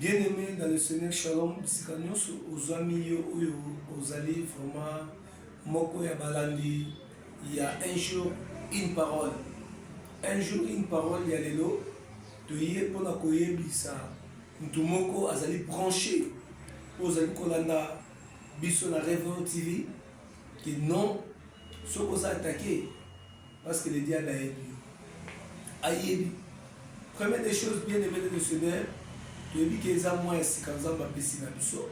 Bien aimé dans le Seigneur Shalom, bisika nyonso ozwami yo oyo ozali vraiment moko ya balandi ya un jour une parole un jour une parole ya lelo toye mpona koyebisa moto moko azali branche oyo ozali kolanda biso na revo tv ke non soki oza atake Parce que le diable a aidé. Ayebi. Première des choses, bien aimé de Seigneur, tu as dit que les amours ainsi qu'en zamba pessi na biso.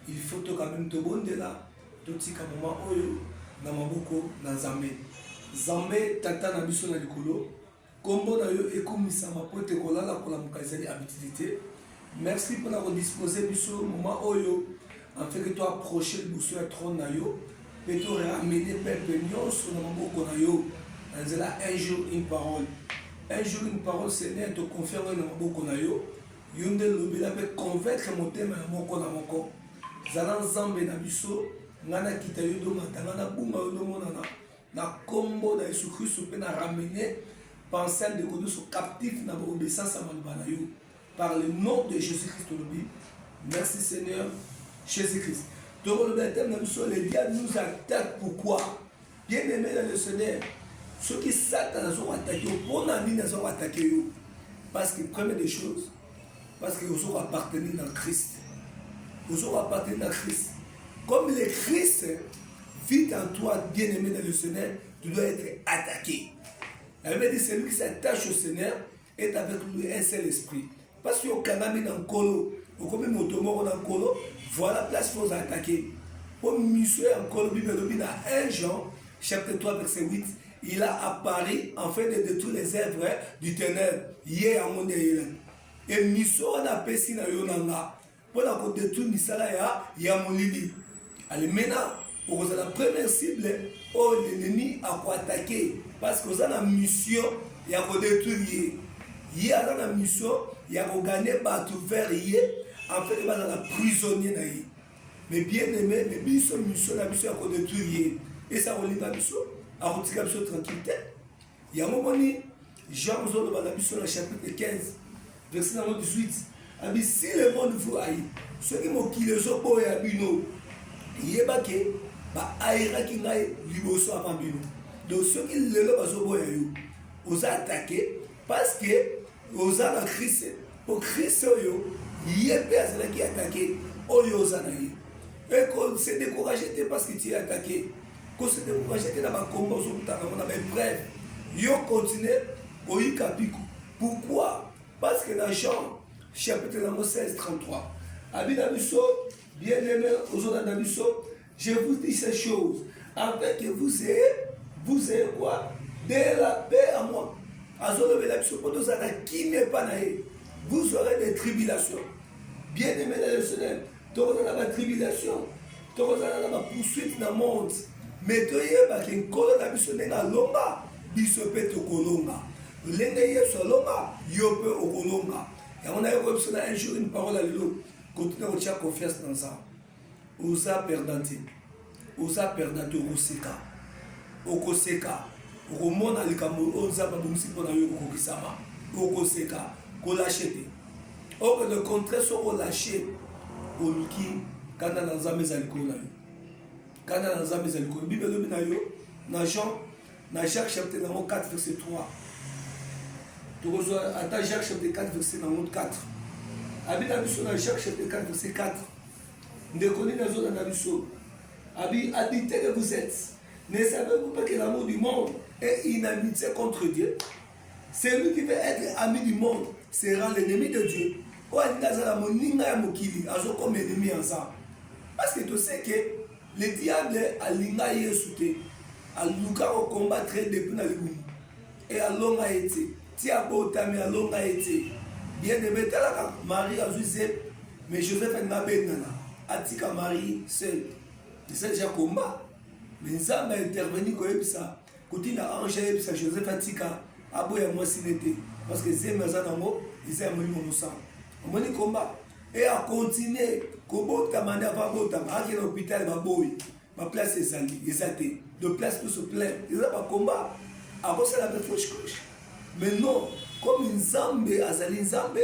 Il faut to quand même te bonde là. Tout si qu'à moment oyo, na maboko, na zambe. Zambe, tata na biso na likolo. Kombo na yo ekomisama po te kolala kolamuka ezali habitude te. Merci pona ko disposer biso moment oyo en fait que to approcher liboso ya trône na yo mpe to ramener peuple nyonso na maboko na yo na nzela un jour une parole un jour une parole Seigneur to confie yango na maboko na yo yo nde lobela mpe convaincre motema ya moko na moko zala nzambe na biso ngai nakita yo domata ngai nabunga yo domonana na nkombo na yesu kristo mpe na ramene pensel de koduso captif na baobesasa maloba na yo par le nom de jésus christ olobi merci seigneur jésus christ tokolobela teme na biso le diable nous attaque pourquoi bien aimé dans le seigneur soki satana azoko atake yo mpona nini azoko atake yo parce que première des choses parce que ozoko appartenir na christ ozoko appartenir na christ comme le christ vit en toi bien aimé dans le seigneur tu dois être attaqué la bible dit celui qui s'attache au seigneur est avec lui un seul esprit parce que okangami na nkolo okomi moto moko na nkolo voilà place faut attaquer mpo miso ya nkolo bible elobi na 1 jean chapitre 3 verset 8 il a apparu en fait de détruire les œuvres du ténèbre ye yango nde eyelani e miso wana apesi na yo na nga mpo na kodetruire misala ya, ya molili. Alimena, okozala première cible oyo l'ennemi akoatake parce que oza na mission ya kodetruire ye. Ye aza na mission ya kogane bato vers ye afin bazala prisonnier na ye. Mais bien aimé, mais biso mission na biso ya kodetruire ye. Esi akolinga biso, akotika biso tranquille te. Yango moni Jean ozoloba na biso na chapitre 15 verset nango 18 abi si le monde vous haït soki mokili ezoboya bino yeba ke baayiraki ngai liboso avant bino donc soki lelo bazoboya yo oza atake parce que oza na krist mpo krist oyo ye mpe azalaki atake oyo oza na ye eko se décourage te parce que tu es atake Ko se decourager te na ba combats ozo kutana nango na ba epreuves. Yo continuer koyika mpiko. Pourquoi? Parce que na Jean chapitre nango 16 33 abi na biso bien aimé ozolanda biso je vous dis ces choses afin que vous ayez vous ayez quoi de la paix à moi azolobela biso mpo tozala na kimia epa na ye vous aurez des tribulations bien aimé na le seigneur tokozala na batribulation tokozala na bapoursuite na monde me toyeba ke nkolo na biso ndenge alomba biso mpe tokolomba lolenge yesu alomba yo mpe okolomba yango nayokoya biso na un jour une parole ya lelo kotuna kotya confiance na nzambe oza perdante oza perdant te okoseka okoseka okomona likambo oyo nzambe abongisi mpo na yo kokokisama okoseka kolashe te oke le contraire soko olashe oluki kanda na nzambe eza likolo na yo kanda na nzambe eza likolo bible elobi na yo na jean na jacques chapitre nango 4 verset 3 tokozwa ata jacques chapitre 4 verset nango 4 abina biso na jacques chapitre 4 verset 4 Ndeko nini azolanda biso abi adite que vous êtes ne savez vous pas que l'amour du monde est une amitié contre Dieu celui qui veut être ami du monde sera l'ennemi de Dieu oyo alingi azala moninga ya mokili azokoma ennemi ya nzambe parce que to sais que le diable alinga yesu te aluka kokombattre depuis na libumu e alonga ye te ti abotami alonga ye te bien aime talaka marie azwi zep mais joseph alinga abengana atika marie seul eza deja combat mais nzambe aintervenir koyebisa kotinda ange ayebisa joseph atika aboya mwasi ne te parce que zemi aza nango eza ya molimo mosala omoni combat e akontinue kobotama nde ava botama akende hopitale baboyi ba place ezali eza te de place tout se plein eza ba combat akosala mpe fauche couche mais non comme nzambe azali nzambe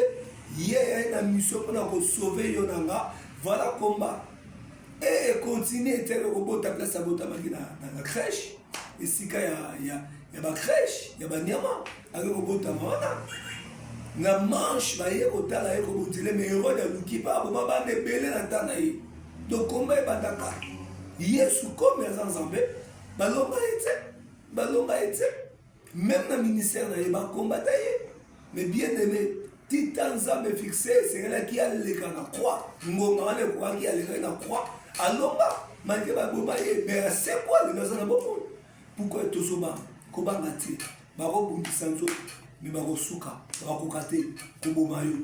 ye ayai na mission mpo na kosauve yo na nga voilà combat e econtinue te kobota place abotamaki na crèche esika ya, ya, ya bacrèche ya banyama aye kobotama wana na manche baye kotala ye kobotele me herode aluki mpe aboma bana ebele na ntan na ye dokomba ebandaka yesu komi aza nzambe balonga ye te balonga ye te meme na ministère na ye bakombata ye me bien aimé tita nzambe fixe esengelaki aleka na croix ngonga wana ekokaki alekaki na croix alonga malgre baboma ye me asekwa lelo aza na bomoi pourkoi tozobanga kobanga te bakobundisa nzoto me bakosuka bakokoka te koboma yo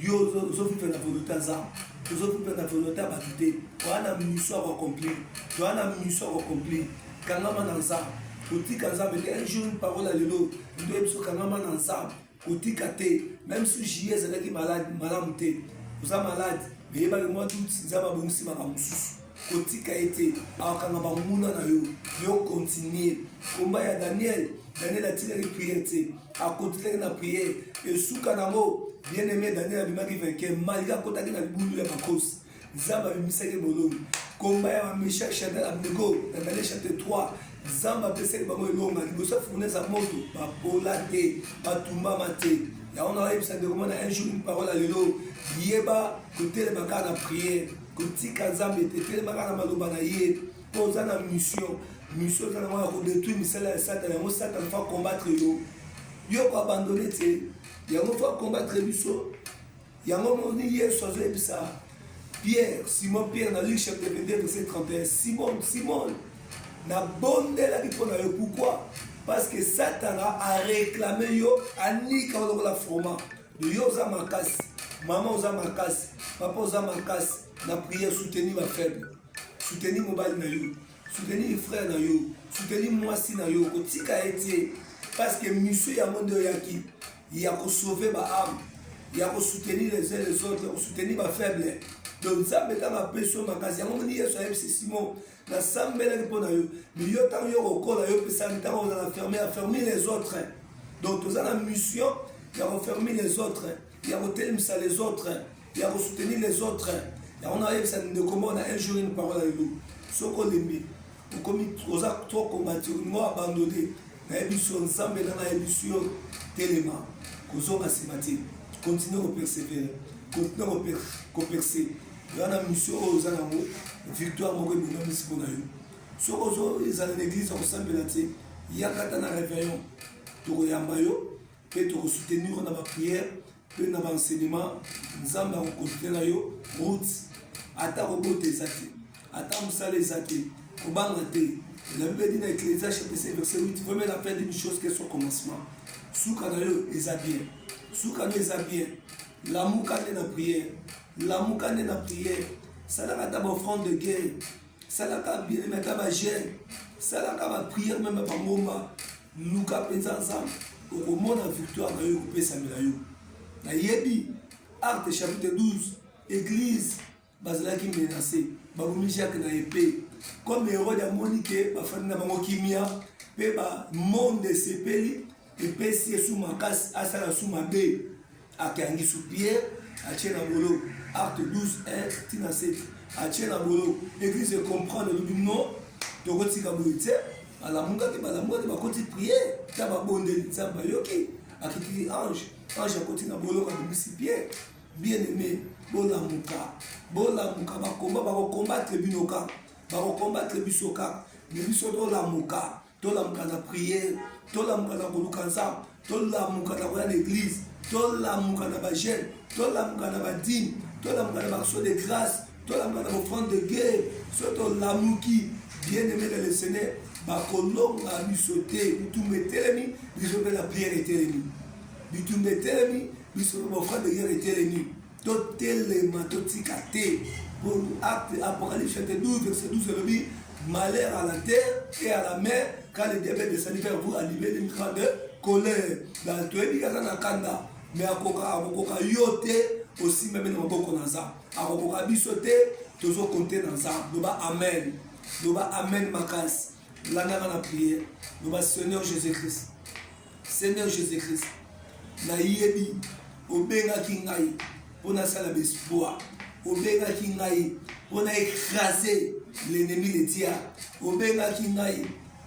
yo ozofifa na volonté ya nzambe ozofifa na volonté ya bato te oya na miso ya koaccomplir oya na miso ya koaccomplir kangama na nzambe kotika nzambe te un jour une parole ya lelo ndoye biso kangama na nzambe kotika te même si jie ezalaki malade malamu te oza malade meyebaki mwa doute nzambe abongisi makambo mosusu kotika ye te akokanga banguna na yo yo kontinue komba ya daniel daniel atikaki priere te akotikaki na priere esuka nango bien aime daniel abimaki vainqueur malgre akotaki na libulu ya makosi nzambe abimisaki boloni komba ya bamesha chanel abnego na daniel chapitre 3 nzambe apesaki bango elonga liboso ya fournaise ya moto bapola te batumbama te yango na oyebisa ndeko mwana un jour une parole ya lelo yeba kotelema kaka na priere kotika nzambe te telemaka na maloba na ye mpo oza na mission mission eza na mwana kodetruire misala ya satana yango satana fa combattre yo yo koabandone te yango fa combattre biso yango moni yesu azoyebisa pierre simon pierre na luc chapitre 22 verset 31 simon simon nabondelaki mpo na yo pourkui parce que satana areklame yo anika olokola fromant Yo oza makasi, mama oza makasi, papa oza makasi. Na prière soutenir ba faible, soutenir mobali na yo, soutenir frère na yo, soutenir mwasi na yo, kotika ye te parce que mission yango nde oyaki ya ko sauver ba âme, ya ko soutenir les uns les autres, ya ko soutenir ba faible. Donc Nzambe ntango apesi yo makasi yango moni Yesu ayebisi Simon nasambelaki mpo na yo yo ntango yo kokola yo pesaki ntango oza na ferme ya fermi les autres donc toza na mission ya kofermi les autres ya kotelemisa les autres ya kosoutenir les autres yango nayebisa ndeko moko na un jour une parole ayo soki olembi okomi oza to kombati olingo abandone nayebi so nzambe na nayebi so yo telema kozonga nsima te continue kopersevere continue koperse wana mission oyo oza nango victoire moko ebongamisi mpo na yo soki ozo ezala na eglise akosambela te yakata na réveillon tokoyamba yo mpe tokosoutenir yo na baprière mpe na baenseignement nzambe akokontinue na yo route ata kobota eza te ata mosala eza te kobanga te la bible dit na ecclésia chapitre verset 8 vraiment la fin d'une chose que son commencement suka na yo eza bien suka na yo eza bien lamuka nde na prière lamuka nde na prière salaka ata ba offrande de guerre salaka bien ata ba jeune salaka ba prière meme bangomba luka mpenza nzambe okomona victoire na yo ekopesamela yo nayebi acte chapitre 12 église bazalaki menase babomi jacques na epe comme herode amoni ke bafandi na bango kimia mpe bamonde esepeli epesi ye su makasi asala su mabe akangi su pierre atie na bolo acte 12 1 tina 7 atie na bolo eglise ecomprendre elobi non tokotika boye te balamukaki balamukaki bakoti priere ta babondeli nzambe ayoki akitiki ange ange akoti na bolo babimisi pierre bien aime bolamuka bolamuka bakomba bakokombatre bino kaka bakokombatre biso kaka me biso tolamuka tolamuka na priere tolamuka na koluka nzambe tolamuka na koya na eglize tolamuka na bagene tolamuka na badime tolamuka na baction de grâce tolamuka na bofrande de guerre so tolamuki bien aimé na le seigneur bakolonga biso te bitumba etelemi biso mpe na priere etelemi bitumba etelemi biso mpe bofrande de guerre etelemi totelema totika te acte apocalypse chapter 12 verset 12 elobi malheur à la terre et à la mer car le diable descendit vers vous à livrer une grande colère donc toyebi kaza na kanda mais akoka akokoka yo te osimbami na maboko na nzambe akokoka biso te tozokonte na nzambe loba amen loba amen makasi landaka na priere loba seigneur jésus christ Seigneur Jésus-Christ, nayebi obengaki ngai mpo nasala baespoir, obengaki ngai mpo na écraser l'ennemi de Dieu, obengaki ngai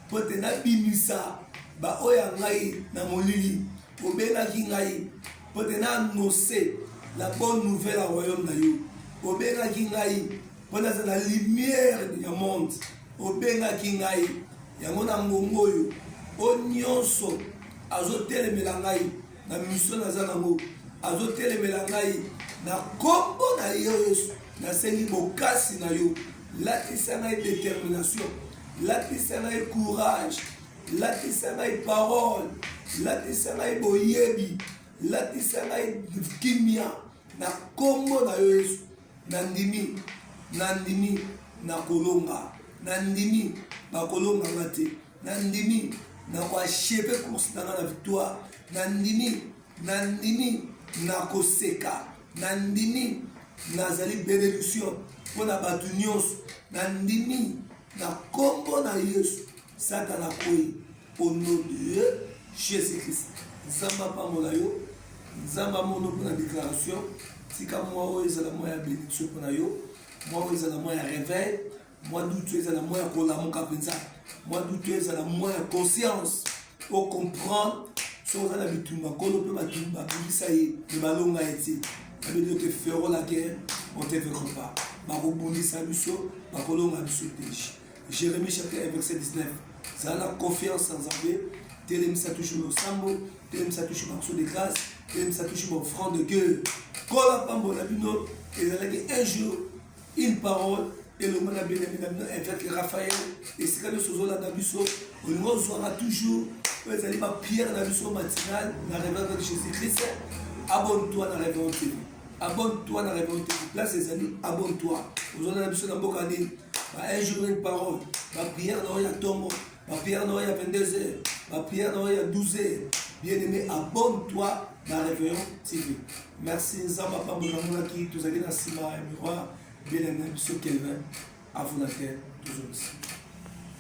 mpo te nabimisa baoyo ya ngai na molili, obengaki ngai mpo te na annonce la bonne nouvelle ya royaume na yo, obengaki ngai mpo nazala lumière ya monde. Obengaki ngai yango na ngonga oyo, o nyonso azotelemela ngai na misio naza nango, azotelemela ngai na kombo na yo Yesu. Nasengi bokasi na yo, lakisa ngai determination, lakisa ngai courage, lakisa ngai parole, lakisa ngai boyebi, lakisa ngai kimia na kombo na yo Yesu. Nandimi, nandimi nakolonga, nandimi bakolonga nga te, nandimi nakoacheve course na nga na victoire, nandimi, nandimi nakoseka, nandimi nazali benediction mpo na bato nyonso, nandimi na nkombo na Yesu, Satana akwei. Au nom de Jésus-Christ. Nzambe apambola yo. Nzambe amono mpo na déclaration. Tika mwa oyo ezala mwa ya bénédiction mpo na yo. Mwa oyo ezala mwa ya réveil. Mwa dutu ezala mwa ya kolamuka mpenza. Mwa dutu ezala mwa ya conscience. O comprendre soki oza na bitumba nkolo mpe batumba babimisa ye mpe balonga ye te babeli ote fero la guerre on te vekre pas bakobundisa biso bakolonga biso te Jérémie chapitre 1 verset 19 zala na confiance na nzambe telemisa toujours losambo telemisa toujours banso de grâce telemisa toujours baoffrande de gueule kola pambo na bino ezalaki un jour une parole elongo na benami na bino evêque raphaël esika nyonso ozolanda biso olingi ozwaka toujours oyo ezali bapierre na biso matinale na reverve de jésus christ abonne toi na reverve tv abonne toi na revolte place ezali abonne toi ozala na biso na mboka nini ba un jour une parole ba prière na oyo ya ntongo ba prière na oyo ya 22 heures ba prière na oyo ya 12 heures bien aimé abonne toi na réveillon tv merci nzambe apambola namonaki tozali na nsima ya miroir bien aimé biso kelvin afonate tozongisi